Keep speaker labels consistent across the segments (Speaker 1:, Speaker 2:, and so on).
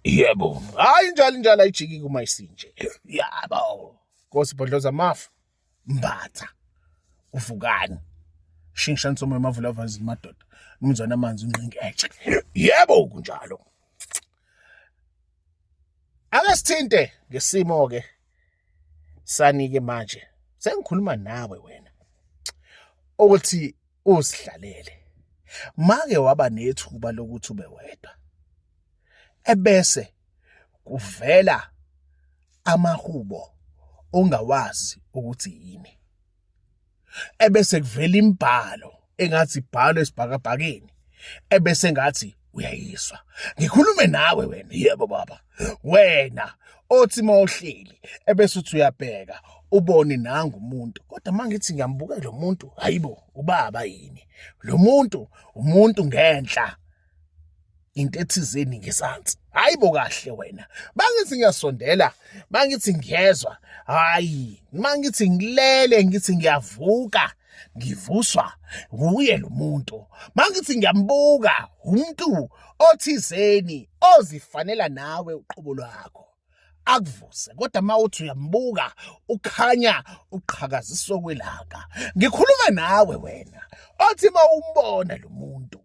Speaker 1: yebo hayi njalo njalo ayijiki kuma isinje yabo Nkosi Bhodloza Mafu Mbatha uvukani shingisha nsomo emavula avanzi madoda umzwana amanzi unqingi etshe yebo kunjalo ake sithinte ngesimo ke sanike manje sengikhuluma nawe wena ukuthi usidlalele make waba nethuba lokuthi ube wedwa ebese kuvela amahubo ongawazi ukuthi yini ebese kuvela imbhalo engathi ibhalo esibhakabhakeni ebese ngathi uyayizwa ngikhulume nawe wena yebo baba wena othi mawuhleli ebese uthi uyabheka ubone nangu umuntu kodwa mangithi ngiyambuka lo muntu hayibo ubaba yini lo muntu umuntu ngenhla into ethizeni ngezansi hayi bo kahle wena bangithi ngiyasondela bangithi ngiyezwa hayi mangithi ngilele ngithi ngiyavuka ngivuswa wuye lo muntu mangithi ngiyambuka umuntu othizeni ozifanela nawe uqobo lwakho akuvuse kodwa uma uthi uyambuka ukhanya uqhakaziswa kwelanga ngikhuluma nawe wena othi uma umbona lo muntu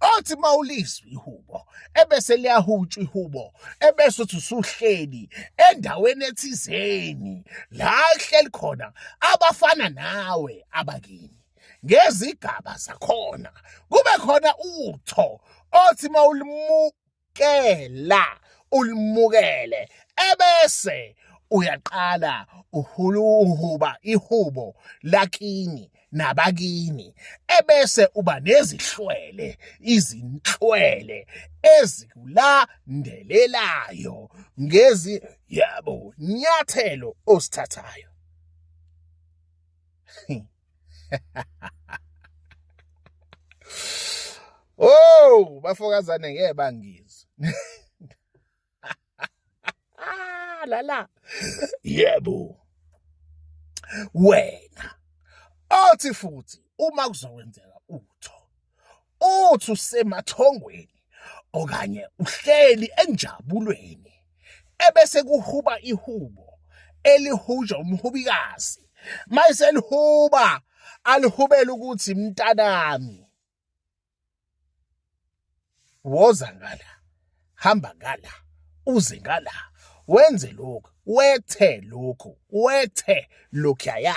Speaker 1: othi mawulizwa ihubo ebese liyahutshwa ihubo ebese uthi usuhleli endaweni ethizeni la hleli khona abafana nawe abakini ngezigaba zakhona kube khona utho othi mawulimu uyalikela ulimukele ebese uyaqala uhuluhuba ihubo lakini nabakini ebese uba nezihlwele izinhlwele ezikulandelelayo ngezi yabo nyathelo osithathayo Oh, bafokazane ngeke bangizwe. la la yebo wena othi futhi uma kuzokwenzeka utho uthi usemathongweni okanye uhleli enjabulweni ebese kuhuba ihubo elihujwa umhubikazi mayiselihuba alihubela ukuthi mntanami woza ngala hamba ngala uze ngala wenze lokhu wethe lokhu wethe lokhaya